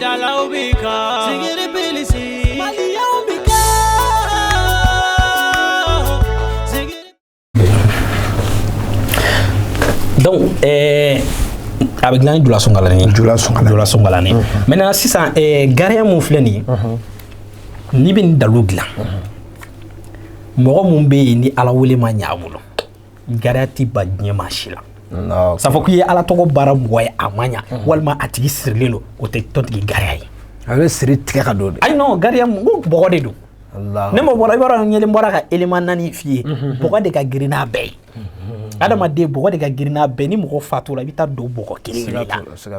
dalaw bɛ kan sigiri bilisi maliyaw bɛ kan sigiri. donc ɛɛ. a bɛ dilan ni jula sunkalani ye jula sunkalani jula sunkalani maintenant sisan ɛɛ gariya mun filɛ nin ye n'i bɛ nin dalu dilan mɔgɔ mun bɛ yen ni ala wele ma ɲɛ a bolo gariya tɛ ba diɲɛ maa si la sa k'i ye ala tɔgɔ baara mɔgɔ ye a ma ɲɛ walima a tigi sirilen don o tɛ tɔntigi gariya ye a bɛ siri tigɛ ka don ayi gariya mɔgɔ de don ne ma bɔra i b'a ɲɛ bɔra ka élément naani f'i ye bɔgɔ de ka girin n'a bɛɛ ye adamaden bɔgɔ de ka girin n'a bɛɛ ni mɔgɔ fatura i bɛ taa don bɔgɔ kelen la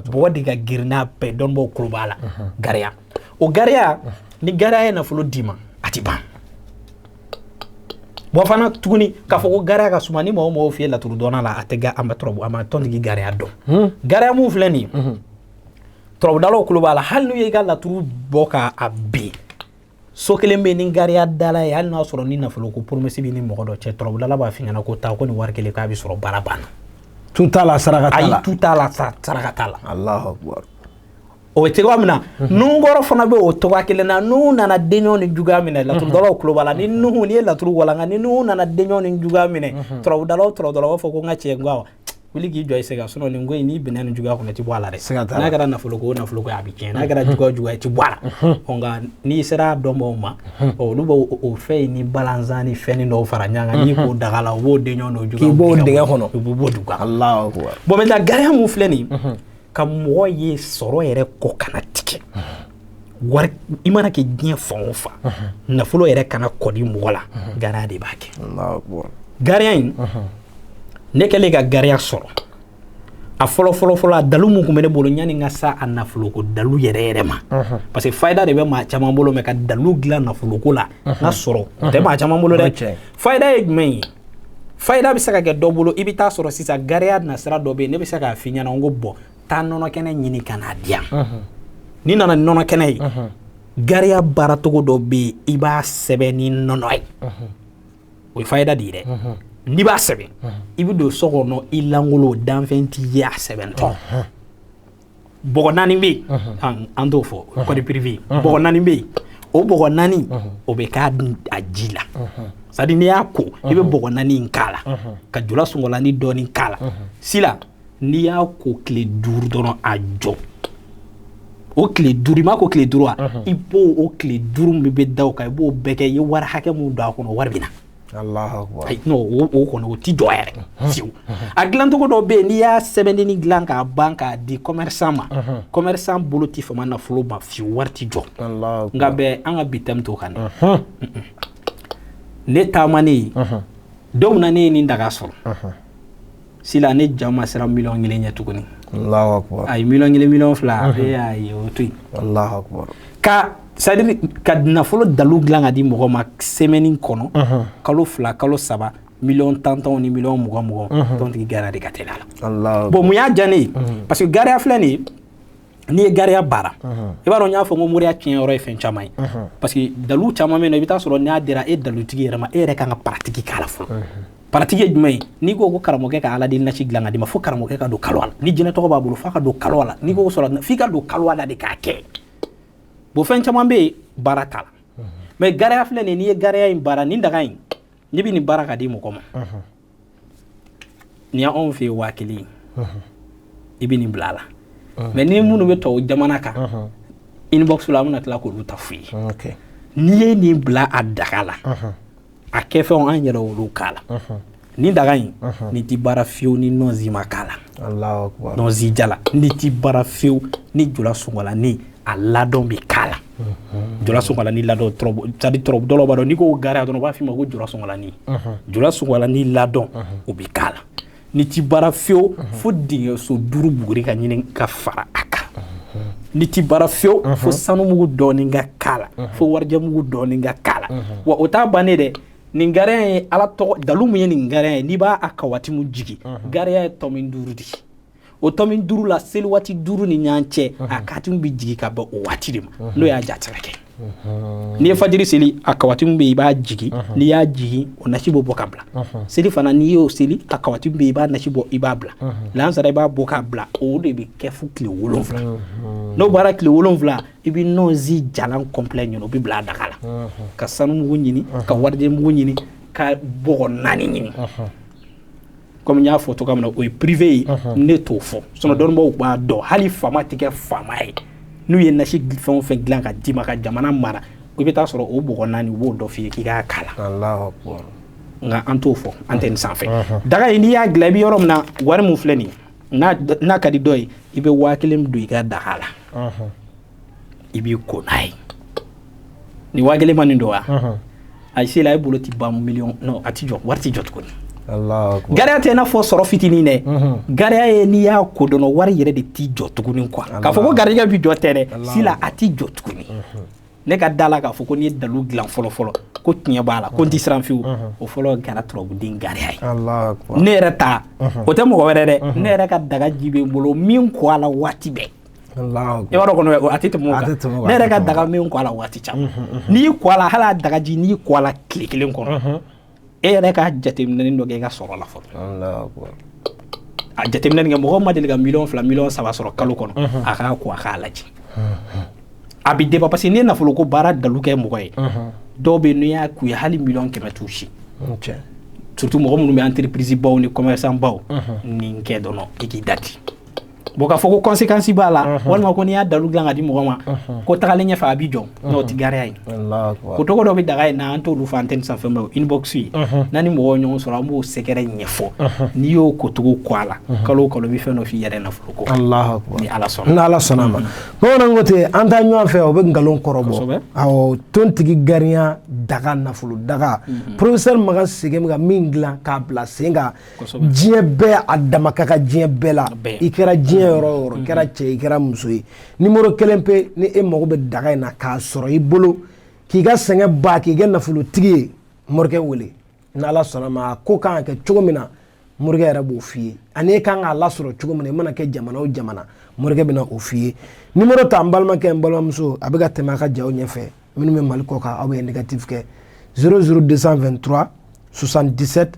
bɔgɔ de ka girin n'a bɛɛ dɔnbaaw kulo b'a la gariya o gariya ni gariya ye nafolo d'i ma a tɛ ban bon fana tuguni k'a fɔ ko gariya ka suma ni mɔgɔ o mɔgɔ f'i ye laturu dɔnna la a tɛ a ma turabu a ma tɔntigi gariya dɔn hmm. gariya mun filɛ nin ye hmm. turabudalaw kulo b'a la hali n'u ye i ka laturu bɔ k'a bin so kelen bɛ ni gariya dala ye hali n'a sɔrɔ ni nafolo ko promesse bɛ ni mɔgɔ dɔ cɛ turabudala b'a f'i ɲɛna ko taa ko nin wari kelen k'a bɛ sɔrɔ baara banna tu t'a la saraka t'a la ayi tu t'a la saraka t'a la alahu akubaru o bɛ cogoya min na nunkɔrɔ fana bɛ o cogoya kelen na n'u nana denɲɔgɔn ni juguya minɛ laturudalaw tulo b'a la ni nuhu n'i ye laturu walanka ni nuhu nana denɲɔgɔn ni juguya minɛ turabudalaw turabudalaw b'a fɔ ko n ka cɛ n ko wuli k'i jɔ i sɛgɛ sinon nin ko in n'i binna nin juguya kɔnɔ i ti bɔ a la dɛ n'a kɛra nafolo ko nafolo ko a bɛ tiɲɛ n'a kɛra juguya juguya i ti bɔ a la nka n'i sera dɔnbaaw ma olu bɛ o fɛn in ni balanzan ni fɛn dɔw fara ɲɔgɔn kan n'i k'o daga la u b'o denɲɔgɔn n'o juguya k'i b'o dingɛ kɔnɔ u b'o dugu kan bon maintenant gariya mun filɛ nin ka mɔgɔ ye sɔrɔ yɛrɛ kɔ kana tigɛ wari i mana kɛ diɲɛ fan o fan nafolo yɛrɛ kana kɔdi mɔgɔ la gariya de b'a kɛ gariya in ne kɛlen ka gariya sɔrɔ a fɔlɔ fɔlɔfɔlɔ a dalu mun kun bɛ ne bolo yani n ka se a nafoloko dalu yɛrɛ yɛrɛ ma parce que fayida de bɛ maa caman bolo mais ka dalu dilan nafoloko la k'a sɔrɔ o tɛ maa caman bolo dɛ fayida ye jumɛn ye fayida bɛ se ka kɛ dɔ bolo i bɛ taa sɔrɔ sisan gariya nasira dɔ bɛ yen ne bɛ se k'a f'i ɲɛna n ko bon taa nɔnɔ kɛnɛ ɲini ka n'a di yan n'i nana nɔnɔ kɛnɛ ye gariya baaracogo dɔ bɛ yen i b'a sɛbɛn ni nɔnɔ ye o ye fayida de ye dɛ n'i b'a sɛbɛn i bɛ don so kɔnɔ i lankolon danfɛn t'i ye a sɛbɛntɔ bɔgɔ naani bɛ yen an- an t'o fɔ code privé bɔgɔ naani bɛ yen o bɔgɔ naani o bɛ k'a ji la c'est-à-dire n'i y'a ko i bɛ bɔgɔ naani in k'a la ka jula sungɔlani dɔɔni k'a la sila n'i y'a ko tile duuru dɔrɔn a jɔ o tile duuru i m'a ko tile duuru wa i b'o o tile duuru min bɛ da o kan i b'o bɛɛ kɛ i ye wari hakɛ min don a kɔnɔ wari bɛ na o kɔni o tɛ jɔ yɛrɛ fiyewu a dilancogo dɔ bɛ yen n'i y'a sɛbɛnni dilan k'a ban k'a di commerçant ma commerçant bolo tɛ fama nafolo ma fiyewu wari tɛ jɔ nka bɛ an ka bi thème t'o kan dɛ ne taamanen don min na ne ye nin daga sɔrɔ. sila ne ja ma sera mi kelen ɲɛ tuguni a ye mi kelen mi fila y'a ye o to ka sari ka nafolo dalu dilan ka di mɔgɔ ma sɛmɛni kɔnɔ kalo fila kalo saba mi tantanw ni mi mɔgɔ mɔgɔ tɔntigi ga de ka la bon mun y'a diyaani parce que gaya filɛ de n'i ye gariya baara i b'a dɔn n y'a fɔ ko moriya tiɲɛ yɔrɔ ye fɛn caman ye parce que dalu caman bɛ yen i bɛ taa sɔrɔ n'a dira e dalutigi yɛrɛ ma e yɛrɛ ka kan ka pratique k'a la fɔlɔ pratique ye jumɛn ye n'i ko ko karamɔgɔkɛ ka ala deli nasi dilan ka d'i ma fo karamɔgɔkɛ ka don kaluwa la ni jinɛ tɔgɔ b'a bolo f'a ka don kaluwa la n'i ko sɔrɔ f'i ka don kaluwa la de k'a kɛ bon fɛn caman bɛ yen baara t'a la mais gariya filɛ nin n'i ye gariya in baara nin daga in n'i bɛ nin baara ka di mɔgɔ ma ni anw fɛ yen waa kelen i bɛ nin bila a la mais ni minnu bɛ tɔw jamana kan inbox la an bɛna tila k'olu ta f'i ye n'i ye nin bila a daga la a kɛfɛnw an yɛrɛ olu k'a la nin daga in nin tɛ baara fiyewu ni nɔnsi ma k'a la nɔnsi jalan nin tɛ baara fiyewu ni jula sun a ladɔn bɛ k'a la jula sunkalani ladɔn c'est à dire tɔrɔbu dɔw b'a dɔn n'i ko gariya dɔrɔn u b'a f'i ma ko jula sunkalani jula sunkalani ladɔn o bɛ k'a la nin ti baara fewu fo dingɛso duuru buguri ka ɲini ka fara a kan nin ti baara fewu fo sanumugu dɔɔni ka k'a la fo warijɛmugu dɔɔni ka k'a la wa o t'a bannen dɛ nin gariya ye ala tɔgɔ dalu min ye nin gariya ye n'i b'a kawatimu jigin gariya ye tɔmi duuru de ye o tɔmi duuru la seli waati duuru ni ɲɔgɔn cɛ a katimu bɛ jigin ka bɛn o waati de ma n'o y'a jatigi kɛ n'i ye fajiri seli a kawatimu bɛ yen i b'a jigin n'i y'a jigin o nasi bɛ bɔ ka bila selifana n'i y'o seli a kawatimu bɛ yen i b'a nasi bɔ i b'a bila lansara i b'a bɔ k'a bila o de bɛ kɛ fo tile wolonwula n'o bɔra tile wolonwula i bɛ nɔnsi jalan complet ɲini o bɛ bila a daga la ka sanu mugu ɲini ka warijɛ mugu ɲini ka bɔgɔ naani ɲini comme n y'a fɔ cogoya min na o ye privé ye ne t'o fɔ sinon dɔnnibaaw b'a dɔn hali faama tɛ kɛ faama ye n'u ye nasi fɛn o fɛn dilan ka d'i ma ka jamana mara i bɛ taa sɔrɔ o bɔgɔ naani u b'o dɔ f'i ye k'i k'a k'a la nka an t'o fɔ an tɛ nin sanfɛ daga in n'i y'a dilan i bɛ yɔrɔ min na wari min filɛ nin ye n'a ka di dɔ ye i bɛ waa kelen don i ka daga la i b'i ko n'a ye nin wa kelen ma nin dɔn wa a se la e bolo tɛ ban million a tɛ jɔ wari tɛ jɔ tuguni gariya tɛ n'a fɔ sɔrɔ fitinin dɛ gariya ye n'i y'a ko dɔn wari yɛrɛ de tɛ jɔ tuguni quoi k'a fɔ ko garijɛgɛ bɛ jɔ tɛ dɛ si la a tɛ jɔ tuguni ne ka da la k'a fɔ ko n ye dalu dilan fɔlɔ fɔlɔ ko tiɲɛ b'a la ko n tɛ siran fewu o fɔlɔ kɛra turabuden gariya ye ne yɛrɛ ta o tɛ mɔgɔ wɛrɛ dɛ ne yɛrɛ ka daga ji bɛ n bolo min ko a la waati bɛɛ yɛrɛ ka daga min ko a la waati caman n'i ko a la hali daga ji n'i ko a la tile kelen kɔnɔ e yɛrɛ ka jateminɛ dɔ kɛ i ka sɔrɔ la fɔlɔ a jateminɛ kɛ mɔgɔ ma deli ka million fila million saba sɔrɔ kalo kɔnɔ a k'a ko a k'a lajɛ a bɛ débat parce que n'i ye nafolo ko baara dalu kɛ mɔgɔ ye dɔw bɛ yen n'i y'a k'u ye hali million kɛmɛ t'u si surtout mɔgɔ minnu bɛ entreprisebaw ni commerçantbaw nin kɛ dɔrɔn i k'i dati Bon k'a fɔ ko conséquence b'a la walima ko n'i y'a dalu dilan ka di mɔgɔ ma ko tagalen ɲɛfɛ a bɛ jɔ n'o tɛ gariya ye kocogo dɔ bɛ daga in na an t'olu fɔ antenne sanfɛ mais inbox ye n'an ni mɔgɔ ɲɔgɔn sɔrɔ an b'o secret ɲɛfɔ n'i y'o kocogo ko a la kalo o kalo i bɛ fɛn dɔ f'i yɛrɛ nafolo ko ni ala sɔnna ni ala sɔnna ma bamananw ko ten an taa ɲɔgɔn fɛ o bɛ nkalon kɔrɔ bɔ tontigi gariya daga nafolo daga professeur makan sɛgɛn bɛ ka min dilan k'a bila sen kan diɲɛ bɛɛ a dama ka kan diɲɛ bɛɛ la i kɛra diɲɛ yɔrɔ o yɔrɔ mm-hmm. kɛra cɛ i kɛra muso ye nimoro kelen pe ni e mago bɛ daga in na k'a sɔrɔ i bolo k'i ka sɛgɛn ban k'i kɛ nafolotigi ye morikɛ wele ni ala sɔnna ma ko kan ka kɛ cogo min na morikɛ yɛrɛ b'o f'i ye ani e kan k'a lasɔrɔ cogo min na i mana kɛ jamana o jamana morikɛ bɛna o f'i ye nimoro ta n balimakɛ n balimamuso a bɛ ka tɛmɛ a ka jaw ɲɛfɛ minnu bɛ mali kɔ kan aw bɛ indicatif kɛ 00223 77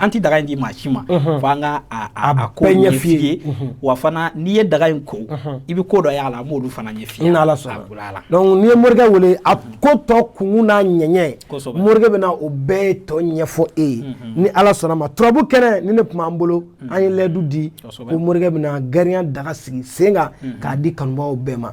an tɛ daga in di maa si ma fo an ka a ko ɲɛf'i ye wa fana n'i ye daga in ko i bɛ ko dɔ y'a la an b'olu fana ɲɛf'i ye n'ala sɔnna a la donc n'i ye morikɛ wele a ko tɔ kunkun n'a ɲɛɲɛ morikɛ bɛna o bɛɛ tɔ ɲɛfɔ e ye ni ala sɔnna ma turabu kɛnɛ nin de tun b'an bolo an ye layidu di ko morikɛ bɛna gariya daga sigi sen kan k'a di kanubagaw bɛɛ ma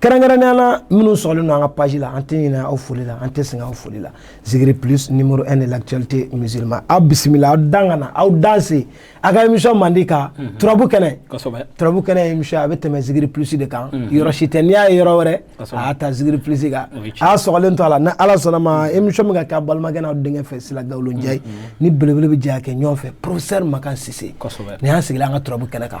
kɛrɛnkɛrɛnnenya la minnu sɔgɔlen don an ka page la an tɛ ɲinɛ aw foli la an tɛ sɛgɛn aw foli la zikiri plus numéro 1 de l'actualité musulmane aw bisimila aw dan ka na aw danse a ka émission mandi kan mhm. turabu kɛnɛ turabu kɛnɛ ye émission a bɛ tɛmɛ zikiri plus de kan mhm. yɔrɔ si tɛ n'i y'a ye yɔrɔ wɛrɛ a y'a ta zikiri plus kan a y'a sɔgɔlen to a la ni ala sɔnna ma mhm. émission bɛ ka kɛ a balimakɛ n'aw denkɛ fɛ sila gawlo njayi ni belebele bɛ jɛ k'a kɛ ɲɔgɔn fɛ professeur makan sise nin y'an sigilen an ka turabu kɛnɛ kan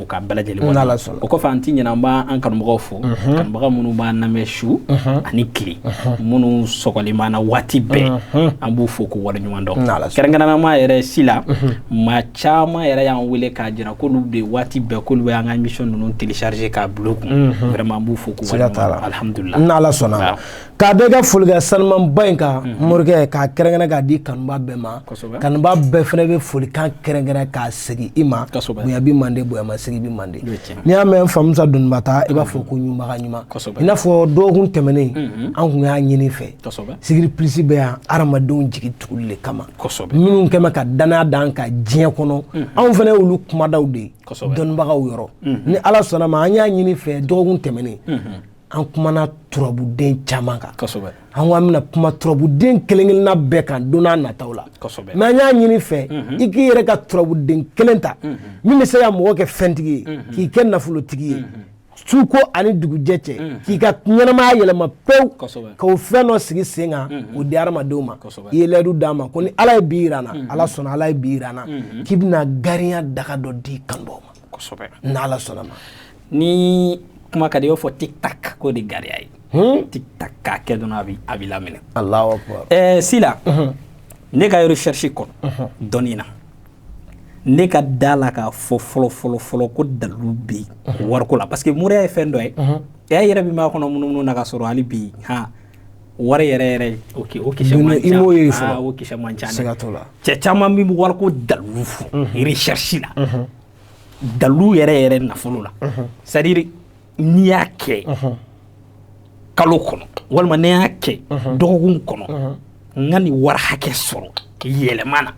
k'a bɛɛ lajɛlen Ni Ala sɔnna. o kɔfɛ an ti ɲinɛ an b'a an kanubagaw fo kanubaga minnu b'an lamɛn su ani tile minnu sɔgɔlen b'an na waati bɛɛ an b'u fo k'u waleɲuman dɔn Ni Ala sɔnna. kɛrɛnkɛrɛnnama yɛrɛ sila maa caman yɛrɛ y'an wele k'a jira k'olu bɛ waati bɛɛ k'olu bɛ an ka émission ninnu télécharger k'a bila u kun vraiment an b'u fo k'u Siga t'a la. waleɲuman dɔn alhamdulila Ni Ala sɔnna. Waaw. K'a d'i ka folikan sanimanba in kan morikɛ k'a kɛrɛnkɛrɛn k'a di kanuba bɛɛ ma kanuba bɛɛ fana bɛ folikan kɛrɛnkɛrɛn k'a segin i ma bonya bɛ mande bonya ma segin bɛ mande n'i y'a mɛn famusa dununba ta i b'a fɔ ko ɲumanbaga ɲuman i n'a fɔ dɔgɔkun tɛmɛnen an kun y'a ɲini fɛ zikiri plus bɛ yan adamadenw jigi tuguli le kama minnu kɛlen ka dannaya d'an kan diɲɛ kɔnɔ anw fana y'olu kumadaw de ye dɔnnibagaw yɔrɔ ni ala sɔnna ma an y'a ɲini fɛ dɔgɔkun tɛmɛnen an kumana turabuden caman kan an ko an bɛna kuma turabuden kelen-kelenna bɛɛ kan don n'a nataw la mais an y'a ɲini fɛ mhm. i k'i yɛrɛ ka turabuden kelen ta mhm. min bɛ se ka mɔgɔ kɛ fɛntigi ye mhm. k'i kɛ nafolotigi ye suko ani dugujɛ cɛ k'i ka ɲɛnamaya yɛlɛma pewu ka o fɛn dɔ sigi sen kan o di hadamadenw ma i ye layidu d'a ma ko ni ala ye bi yira n na ala sɔnna ala ye bi yira n na k'i bɛna gariya daga dɔ di kanubaaw ma kosɛbɛ n' ala sɔnna ma ni kuma ka di i b'a fɔ tic-tac k'o de gariya ye hmm? tic-tac k'a kɛ dɔrɔn a bɛ a b'i laminɛ ɛɛ sila ne ka recherche kɔnɔ dɔnni na ne ka da la k'a fɔ fɔlɔ fɔlɔ fɔlɔ ko dalu bɛ yen wariko la parce que moriya ye fɛn dɔ ye e yɛrɛ min b'a kɔnɔ munumunu na ka sɔrɔ hali bi yen wari yɛrɛ yɛrɛ o ke o kisɛ man ca i m'o ye fɔlɔ aa o kisɛ man ca dɛ siga t'o la cɛ caman min bɛ wariko dalilu fɔ recherche la dalilu yɛrɛ yɛrɛ nafolo la c'est à dire n'i y'a kɛ kalo kɔnɔ walima n'i y'a kɛ dɔgɔkun kɔnɔ n ka nin wari hakɛ sɔrɔ yɛlɛma na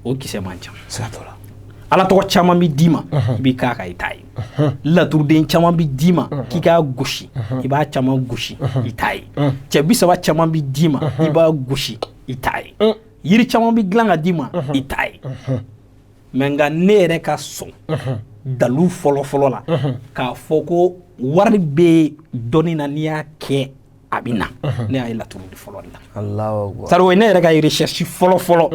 o kisɛ man ca siga t'o la ala tɔgɔ caman bɛ d'i ma i b'i k'a kan i t'a ye laturuden caman bɛ d'i ma k'i k'a gosi i b'a caman gosi i t'a ye cɛ bi saba caman bɛ d'i ma i b'a gosi i t'a ye yiri caman bɛ dilan ka d'i ma i t'a ye mais nka ne yɛrɛ ka sɔn dalu fɔlɔfɔlɔ la k'a fɔ ko wari bɛ dɔnni na n'i y'a kɛ a bɛ na ne y'a ye laturu de fɔlɔ la sari ye ne yɛrɛ ka recherche fɔlɔ fɔlɔ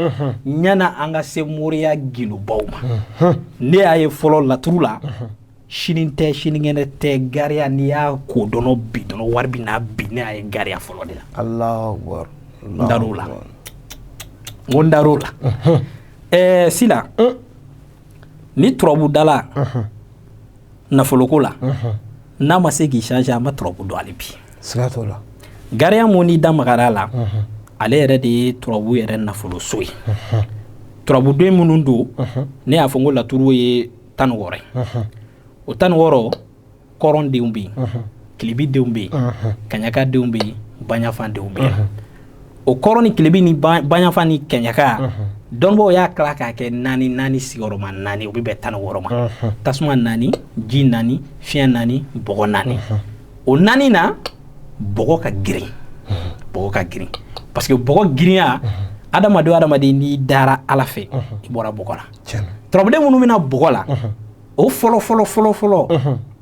yani an ka se moriya gundubaw ma ne y'a ye fɔlɔ laturu la sini tɛ sinikɛnɛ tɛ gariya n'i y'a ko dɔrɔn bi dɔrɔn wari bɛ na bi ne y'a ye gariya fɔlɔ de la n dar'o la ko n dar'o la ɛɛ sila ni turabudala nafoloko la n'a ma se k'i changer a ma turabu dɔn hali bi gariya mun n'i da magara la ale yɛrɛ de ye turabu yɛrɛ nafoloso ye turabudenw minnu don ne y'a fɔ ko laturu ye tan wɔɔrɔ o tan wɔɔrɔ kɔrɔndenw bɛ yen tilebindenw bɛ yen kaɲakadenw bɛ yen baɲafadenw bɛ yen o kɔrɔn ni tilebin ni baɲafa ni kaɲaka donc u y'a tila k'a kɛ naani naani sigiyɔrɔma naani o bɛ bɛn tan wɔɔrɔ ma tasuma naani ji naani fiɲɛ naani bɔgɔ naani o naani na bɔgɔ ka girin bɔgɔ ka girin parce que bɔgɔ girinya adamadenw adamaden n'i dara ala fɛ i bɔra bɔgɔ la turabuden minnu bɛ na bɔgɔ la o fɔlɔ fɔlɔ fɔlɔ fɔlɔ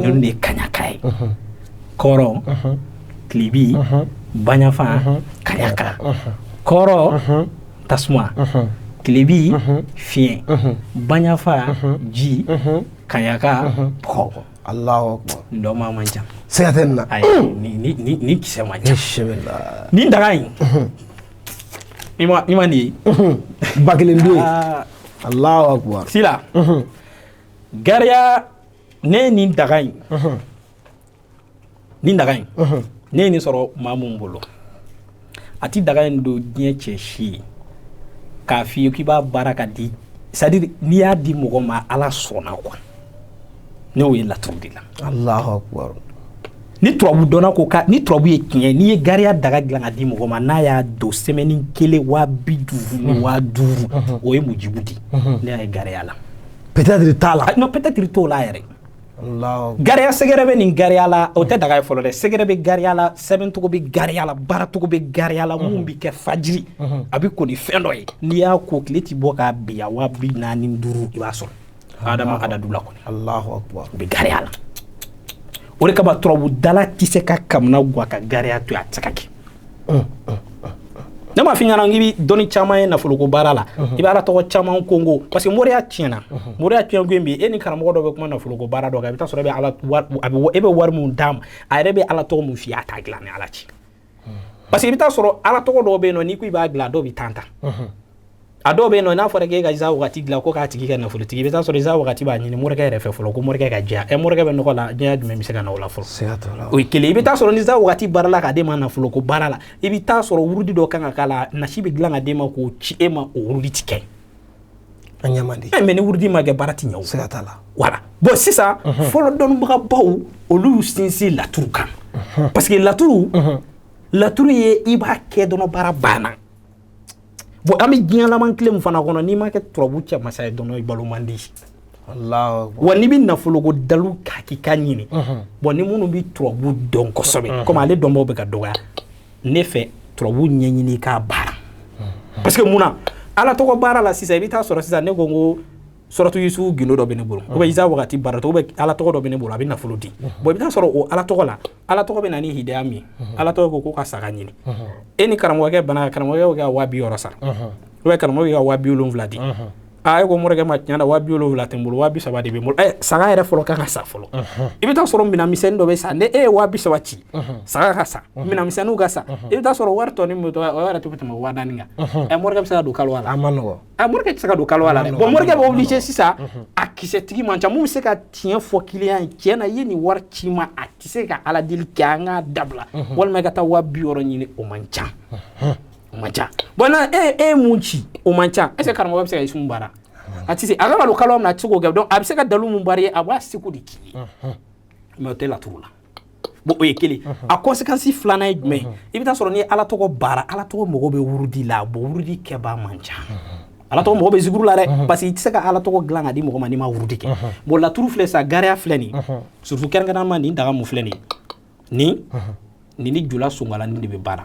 ninnu de ye kaɲaka ye kɔrɔn tilebin baɲafa kaɲaka kɔrɔn tasuma tilebin fiɲɛ baɲafa ji kaɲaka bɔgɔ dɔnbaa man ca siga tɛ nin kisɛ man ca nin daga in i ma nin ye ba kelen don alahu akubar sila gariya ne nin daga in nin daga in ne ye nin sɔrɔ maa min bolo a tɛ daga in don diɲɛ cɛ si ye k'a f'i ye k'i b'a baara ka di c'est-à-dire n'i y'a di mɔgɔ ma ala sɔnna quoi ne y'o ye laturu de la ni turabu dɔnna ko ka ni turabu ye tiɲɛ n'i ye gariya daga dilan ka di mɔgɔ ma n'a y'a don semaine kelen waa bi duuru ni waa duuru o ye mujibu di ne y'a ye gariya la peut-être t'a la non peut-être t'o la yɛrɛ gariya sɛgɛrɛ bɛ nin gariya la o tɛ daga ye fɔlɔ dɛ sɛgɛrɛ bɛ gariya la sɛbɛncogo bɛ gariya la baaracogo bɛ gariya la mun bɛ kɛ fajiri a bɛ ko ni fɛn dɔ ye n'i y'a ko tile ti bɔ ka bin waa bi naani ni duuru i b'a sɔrɔ adama adadu la kɔni alahu akubar u bɛ gariya la o de kama turabudala tɛ se ka kamanagwan ka gariya to a tɛ se ka kɛ ne m'a f'i ɲɛna k'i bɛ dɔnni caman ye nafoloko baara la i bɛ ala tɔgɔ caman kongo parce que moriya tiɲɛna moriya tiɲɛko bi e ni karamɔgɔ dɔ bɛ kuma nafoloko baara dɔ kan i bɛ t'a sɔrɔ e bɛ ala e bɛ wari mun d'a ma a yɛrɛ bɛ ala tɔgɔ mun f'i ye a t'a dilan ni ala cɛ parce que i bɛ taa sɔrɔ ala tɔgɔ dɔw bɛ yen nɔ n'i ko i b'a dilan dɔw bɛ tan ta a dɔw bɛ yen nɔ n'a fɔra k'e ka iza wagati dilan ko k'a tigi kɛ nafolotigi i bɛ taa sɔrɔ iza wagati b'a ɲini morikɛ yɛrɛ fɛ fɔlɔ ko morikɛ ka jɛya ɛ morikɛ bɛ nɔgɔ la jɛya jumɛn bɛ se ka na o la fɔlɔ o ye kelen i bɛ taa sɔrɔ ni iza wagati baara la k'a d'e ma nafolo ko baara la i bɛ taa sɔrɔ wurudi dɔ kan ka k'a la nasi bɛ dilan ka d'e ma k'o ci e ma o wurudi ti kɛ a ɲɛ man di eh, mais ni wurudi ma kɛ baara ti ɲɛ siga t'a la voilà bon sisan mhm. fɔlɔ dɔnnibagabaw olu sinsin laturu kan mhm. parce que laturu mhm. laturu ye i b'a kɛ dɔrɔn baara banna bon an bɛ diɲɛ laban tile min fana kɔnɔ n'i ma kɛ turabu cɛ masa ye dɔrɔn i balo man di wa n'i bɛ nafoloko dalu hakika ɲini bon ni minnu bɛ turabu dɔn kosɛbɛ komi ale dɔnbaw bɛ ka dɔgɔya ne fɛ turabu ɲɛɲini k'a baara parce que mun na ala tɔgɔ baara la sisan i bɛ taa sɔrɔ sisan ne ko n ko suratu yusufu gindo dɔ bɛ ne bolo ou bien iza wagati baara tɔgɔ bɛ ala tɔgɔ dɔ bɛ ne bolo a bɛ nafolo di bon i bɛ taa sɔrɔ o ala tɔgɔ la ala tɔgɔ bɛ na ni hidaya min ala tɔgɔ ko ko ka saga ɲini e ni karamɔgɔkɛ bɛnna karamɔgɔkɛ ka waa bi wɔɔrɔ sara ou bien karamɔgɔkɛ ka waa bi wolonwula di e ko morikɛ ma tiɲɛ na waa bi wolonwula tɛ n bolo waa bi saba de bɛ n bolo saga yɛrɛ fɔlɔ kan ka san fɔlɔ i bɛ taa sɔrɔ minɛnmisɛnnin dɔ bɛ san n'e ye waa bi saba ci saga ka san minɛnmisɛnninw ka san i bɛ taa sɔrɔ wari tɔ min bɛ to o yɛrɛ tɛ tɛmɛ waa naani kan ɛ morikɛ bɛ se ka don kaluwa la a man nɔgɔ ɛ morikɛ tɛ se ka don kaluwa la dɛ bon morikɛ bɛ obligé sisan a kisɛtigi man ca mun bɛ se ka tiɲɛ fɔ kiliyan ye tiɲɛ na i ye nin wari ci ma a tɛ se ka ala deli kɛ an ka dabila walima i ka taa waa bi wɔɔrɔ ɲini o man ca o man ca bon n'e ye mun ci o man ca est ce que karamɔgɔ bɛ se ka Isumu baara a tɛ se a bɛ ka don kaluwa min na a tɛ se k'o kɛ donc a bɛ se ka dalu mun baara i ye a b'a seko de k'i ye mais o tɛ laturu la bon o ye kelen a conséquence filanan ye jumɛn ye i bɛ taa sɔrɔ n'i ye ala tɔgɔ baara ala tɔgɔ mago bɛ wurudi la bon wurudi kɛbaa man ca ala tɔgɔ mago bɛ zikuru la dɛ parce que i tɛ se ka ala tɔgɔ dilan ka di mɔgɔ ma n'i ma wurudi kɛ bon laturu filɛ sa gariya filɛ nin surtout kɛrɛnkɛrɛnnama nin daga mun filɛ nin nin nin ni jula sonkalanni de bɛ baara